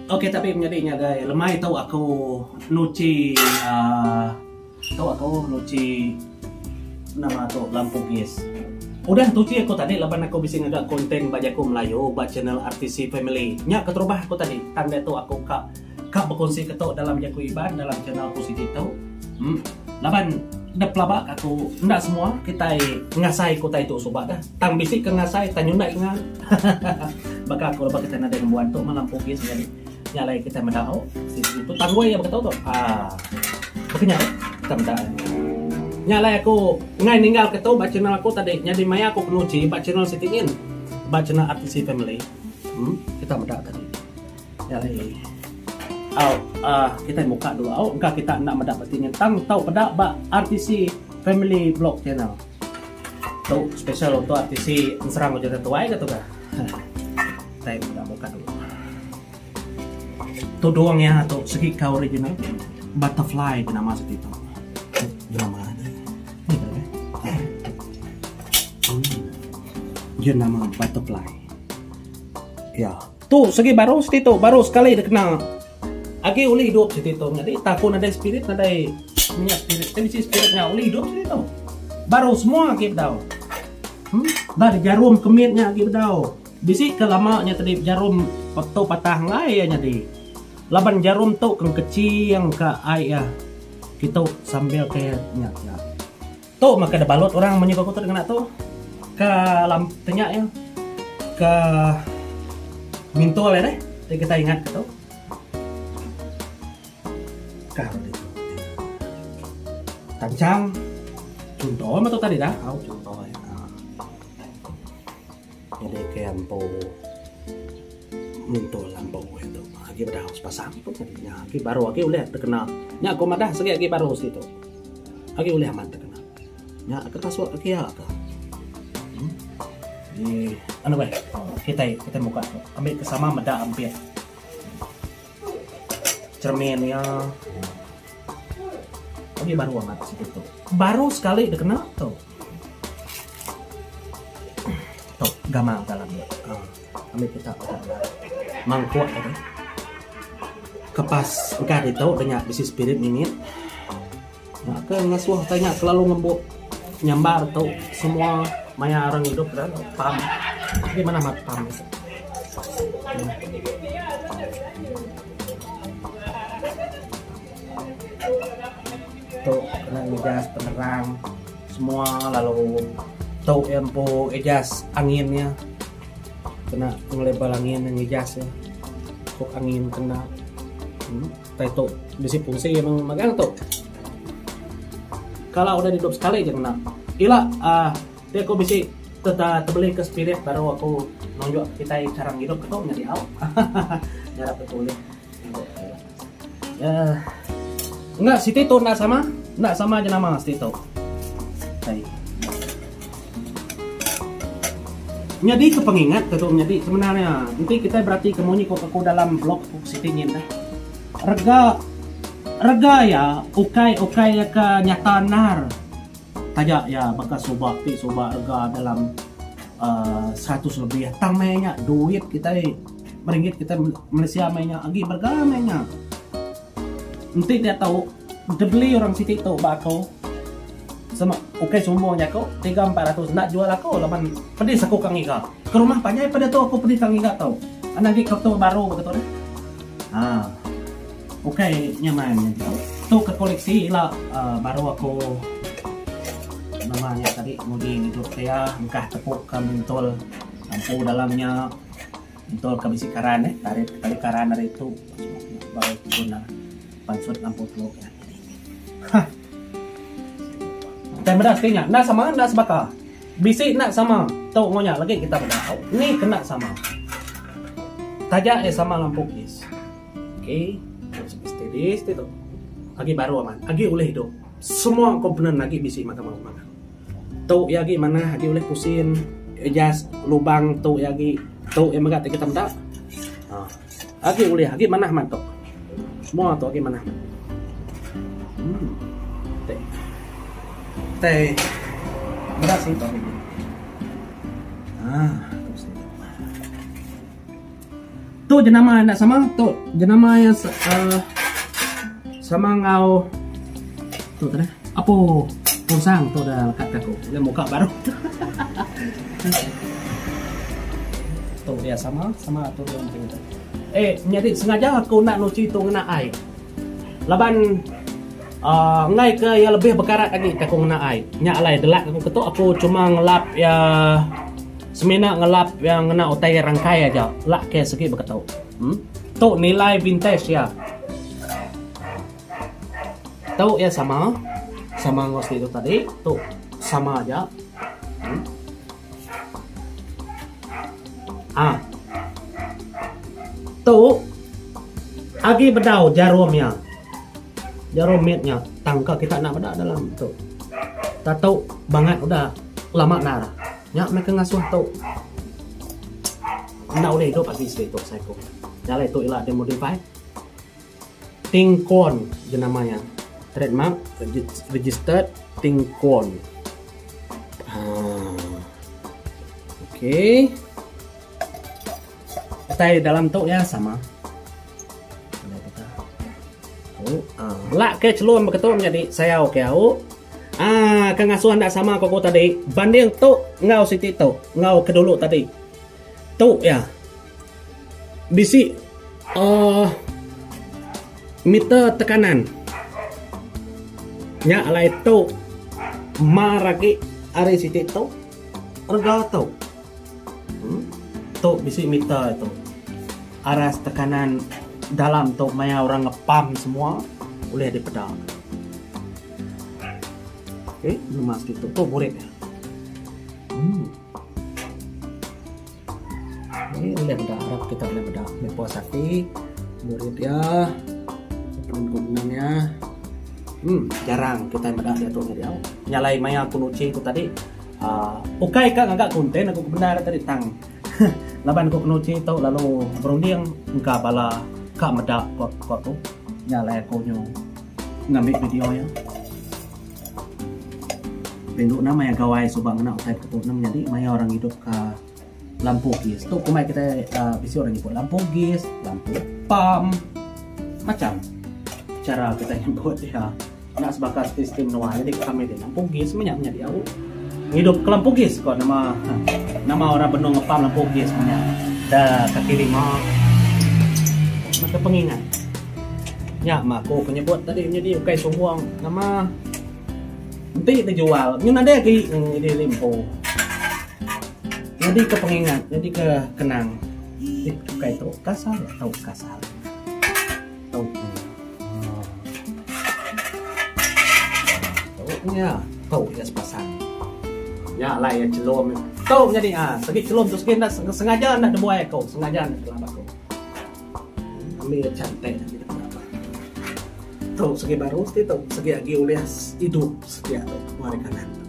Ok tapi menyadi ngagai lemai tu aku nuchi uhh tu aku nuchi nama tu lampu gas. Udah tuchi aku tadi laban aku bisi ngaga content ba jaku melayu ba channel RTC family. Nya keterubah aku tadi tang ditu aku ka. Ka bekunsi ketu dalam jaku Iban dalam channel aku siti tu. Em laban da pelaba ka aku enda semua kitai ngasai ke utai tu suba dah. Tang bisi ke ngasai tang nyundai ke ngan. Baka aku lebuh kitai nadai ngembuan tu malam pugis nyadi nya alai kitai meda au siti tu tang wei baka tu tu. Ah baka nya dah kitai meda ai. Nya alai aku ngai ninggal ke tu ba channel aku tadi nyadi maya aku penguji ba channel siti nyin ba channel RTC family. Em kitai meda tadi. Jari au uh, kita buka dulu au engka kita nak meda peti ngentang tau peda ba RTC Family Vlog Channel. Tu special untuk RTC Serang Ujung Tuai ke tu ke? Saya dah buka dulu. Tu doang ya tu segi kau original butterfly nama seperti itu. Nama ni. Ini nama butterfly. Ya. Yeah. Tu segi baru siti tu baru sekali dikena agi ulih hidup siti tu nyadi taku nadai spirit nadai minyak spirit tapi si spirit nya ulih hidup siti tu baru semua agi bedau hmm? dah dijarum kemit nya agi bedau bisi ke lama nya tadi jarum tu patah ngai ya nyadi laban jarum tu keng kecing ka ai ya kita sambil ke nya ya Tu maka da balut orang menyuka aku tu dengena tu ke lam ke nya ya ke mintul ya deh ti kita ingat ke tu. Kah di tu. Tancang. Chunto mah tu tadi dah. Au chunto. Jadi ke ampu mentul ampu itu. Agi pada harus pasang pun tadi. Nya agi baru agi ulih terkena. Nya aku madah segi agi baru situ. Agi ulih aman terkena. Nya aku pasuk agi ya ke. Hmm? Di anu baik. Kita kita buka. Ambil ke sama meda ambil. Cermin ya. Agi baru amat situ. Baru sekali terkena tu. Tok gamal ka dalam dia. Ambi pita peda nya. Mangkuk ka deh. Kepas engka ditu deh nya bisi spirit mimit. Nya ke ngasuh ka nya selalu ngembu nyambar tu semua maya orang idup da pam. Agi manah amat pam. Tu kena ngijas penerang semua lalu tu iya empu ngijas angin iya kena ngelabel angin iya ngijas iya ku angin kena utai tu bisi fungsi iya meng magang tu kala udah didup sekali aja ngena ila uhh ti aku bisi tebeli ke spirit baru aku nunjuk kitai cara ngidup ke tu nyadi au hahaha nyarap ke tu ulih. Eh, enggak siti tu enggak sama, enggak sama aja nama siti tu. Hai. Nyadi ke pengingat tu nyadi sebenarnya. Nanti kita berarti ke munyi kok aku dalam blog kok siti nyin dah. Rega rega ya ukai ukai ya ke nyata nar. Taja ya baka subak ti subak rega dalam uh, eh, 100 lebih. Tang meh duit kita Ringgit kita Malaysia meh nya agi berega meh nya. Enti dia tau dibeli orang siti tu ba aku sama ukai sombong jaku 3 400 enda jual aku laban pedis aku ka ngiga. Ke rumah panjai pada tu aku pedis ka ngiga tu. Ana agi kereta baru baka tu deh. Ha. Ukai nyaman nya tu. Tu ke koleksi ila uh, baru aku nama nya tadi nguji hidup saya engkah tepuk ke mentul Lampu dalam nya entur ke bisi karan eh tarit tali karan ari tu baru guna pansut lampu telok nya. Ha. Tang meda siti nya enda sama enda sebaka. Bisi enda sama tu enggau nya lagi kita meda tau. Ni kena sama. Taja eh sama lampu kis. Okey. Steady siti tu. Agi baru aman. Agi ulih hidup. Semua komponen agi bisi mahkamah perundangan. Tu iya agi manah agi ulih pusin adjust lubang tu iya agi tu iya mega ti kita meda uhh agi ulih agi manah mah tu semua tu agi manah uhh ti kitai meda singkang agi uhh tu singkang. Tu jenama enda sama tu jenama yang uh, sama ngau tu tadi apa pusang tu dah lekat aku dia muka baru tu dia sama sama tu dia mungkin eh nyari sengaja aku nak nuci tu kena ai laban uh, ngai ke yang lebih berkarat lagi aku kena ai nyak alai delak aku ketuk aku cuma ngelap ya Semina ngelap iya ngena utai rangkai aja lak ke segi beketu. Hm. Tu nilai vintage iya. Tu iya sama. Sama enggau siti tu tadi. Tu sama aja. Hm. Ah. Tu agi bedau jarum iya. Jarum mit nya tangka kita enda meda dalam tu. Tatu bangat udah lama enda. Nya meh ke ngasuh tu. Enda ulih idup agi sidi tu psycho. Jalai tu ila dia modify. Ting Kwon je nama nya. Trademark registered Ting Kwon. Ha. Okay. Utai dalam tu ya sama. Lak ke celum beketu menjadi sayau ke au. Ah, ke ngasuh anda sama ko ko tadi. Banding tu ngau siti tu, ngau ke dulu tadi. Tu ya. Bisi uh, meter tekanan. Nya alai tu mar lagi ari siti tu. Rega tu. Tu bisi meter tu aras tekanan dalam tu maya orang ngepam semua ulih dipeda. Okey ngemas ditu tu burit dia. Umm. Ni ulih meda harap kita ulih meda meh puas ati burit dia pun gunung dia. Umm jarang kitai meda diatu nya diau. Nya alai maya aku nuchi tu tadi. Aaa ukai ka ngaga konten aku ke bendar tadi tang laban aku kena uji tu lalu berunding engka bala ka meda ko ko tu nya alai aku nyu ngambi video nya. Rindu enda maya gawai suba ngena utai ke tu enda menyadi maya orang idup ka. Lampu gas tu kumai kita uh, bisi orang nyebut lampu gas, lampu pam, macam cara kita nyebut dia. Nak sebaka sistem luar jadi kami dia lampu gas banyak banyak dia. Hidup ke lampu gas kau nama ha, nama orang benung ngepam lampu gas banyak. Dah kaki lima. Maka pengingat. Ya, mak aku penyebut tadi menjadi ukai sombong. Nama Enti bejual nyu nadai agi nyadi limpu. Nyadi ke pengingat, nyadi ke kenang. Ih bukai tu kasar nya tau kasar. Tau nya. Tau nya. Tau nya sepasang. Nya alai iya chelum. Tau nya di ah. Segi chelum tu segi enda sengaja enda nebuai aku. Sengaja enda kelap aku. Ambi iya cantik. Tu segi baru ti tu segi agi ulih idup sedia tu ku ari kanan tu.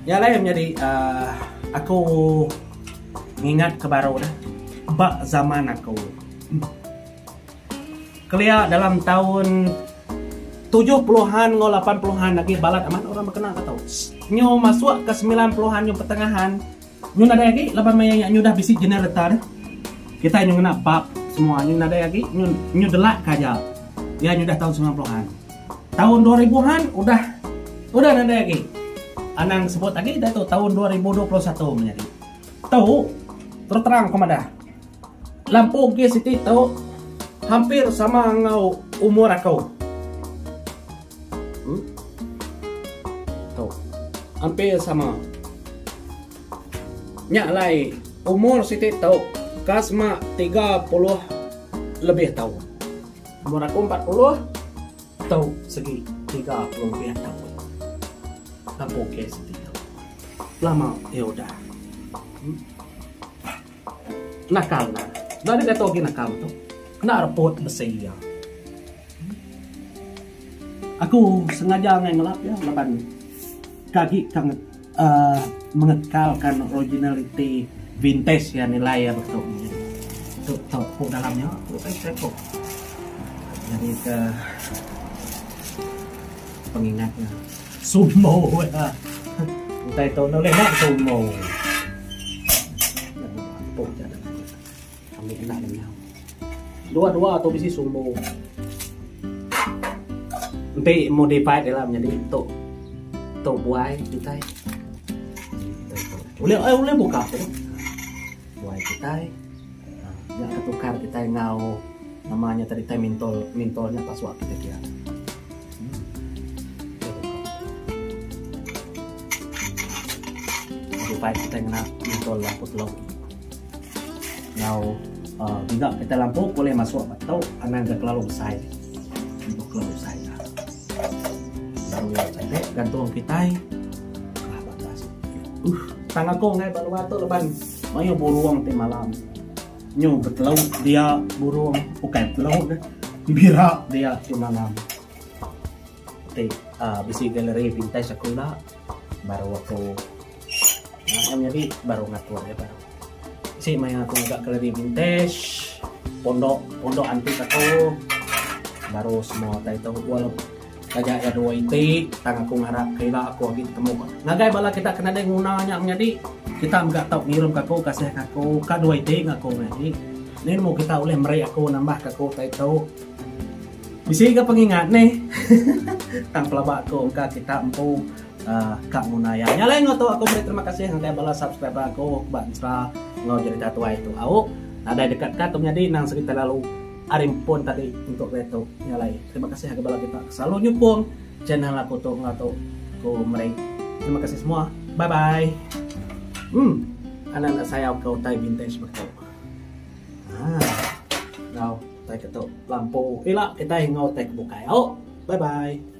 Nya alai menyadi uh, aku ngingat ke baru dah. Ba zaman aku. Kelia dalam tahun 70-an enggau 80-an lagi balat amat orang berkenang kata. Nyu masuk ke 90-an nyu pertengahan Nyu nadai agi laban maya nya nyu udah bisi generator deh. Kitai nyu ngena bab semua nyu nadai agi nyu nyu delak ka aja. Iya nyu udah taun sembilan puluh an. Taun dua ribu han udah udah nadai agi. Anang sebut agi ditu taun dua ribu dua puluh satu menyadi. Tu terus terang aku madah. Lampu gas iti tu hampir sama enggau umur aku. Hmm. Tu. Hampir sama. Nya alai umur siti tu ka sema 30 lebih taun. Umur aku 40 tu segi 30 lebih taun. Aku ke siti tu. Lama ke udah. Hmm. Nakal nya. Enda deh diatu agi nakal metu. Enda repot besi iya. Aku sengaja angai ngelap iya laban ke agi ke uhh mengekalka originaliti vintage iya nilai iya betu. Tu tau ku dalam nya tu tau ku tengok. Nyadi ke pengingat nya. Sumo ya. Utai tu enda ulih nak sumo. Ambil anak lenyau. Dua-dua tu bisi sumo. Enti modified dia lah menjadi tu. Tu buai utai. Ulih eh ulih buka tu. Tuai kitai nya ke tukar kitai enggau nama nya tadi tai mintol mintol nya pasuak kitai pia. Tuai hmm. kitai ngena mintol lampu telok. Enggau uh, kita lampu boleh masuk atau anang ke kelalu besai. Untuk kelalu besai. Cantik gantung kitai. Kah batas. Uh, tang aku ngai ba luar tu leban mayuh burung ti malam. Nyu betelau dia burung bukan betelau ke. Bira dia ti malam. Ti uh, bisi galeri vintage aku ila baru aku Ngan nyadi baru ngatur ya baru. Si maya aku agak kelari vintage pondok pondok antik aku baru semua tai tahu wal taja ya dua iti tang aku ngarap kira aku lagi ketemu ngagai bala kita kena dai guna nya menyadi kita enggak tahu ngirim aku kasih aku ka dua iti ngaku menyadi ni nemu kita boleh meri aku nambah aku tai tahu bisi ga pengingat ni tang pelaba aku engka kita empu uh, ka nguna ya. Nya lain ngoto aku beri terima kasih ngagai bala subscriber aku ba Insta ngau cerita tuai tu. Au nadai dekat ka tu menyadi nang segi terlalu arim pun tadi untuk dia tu. Nya lain. Terima kasih ngagai bala kita selalu nyukung channel aku tu ngau tu. Aku meri terima kasih semua. Bye bye. Hmm. Anak-anak saya kau tai vintage betul. Ah. Ngau tai ketok lampu. Ila kita ngau tai bukai. Au. Bye bye.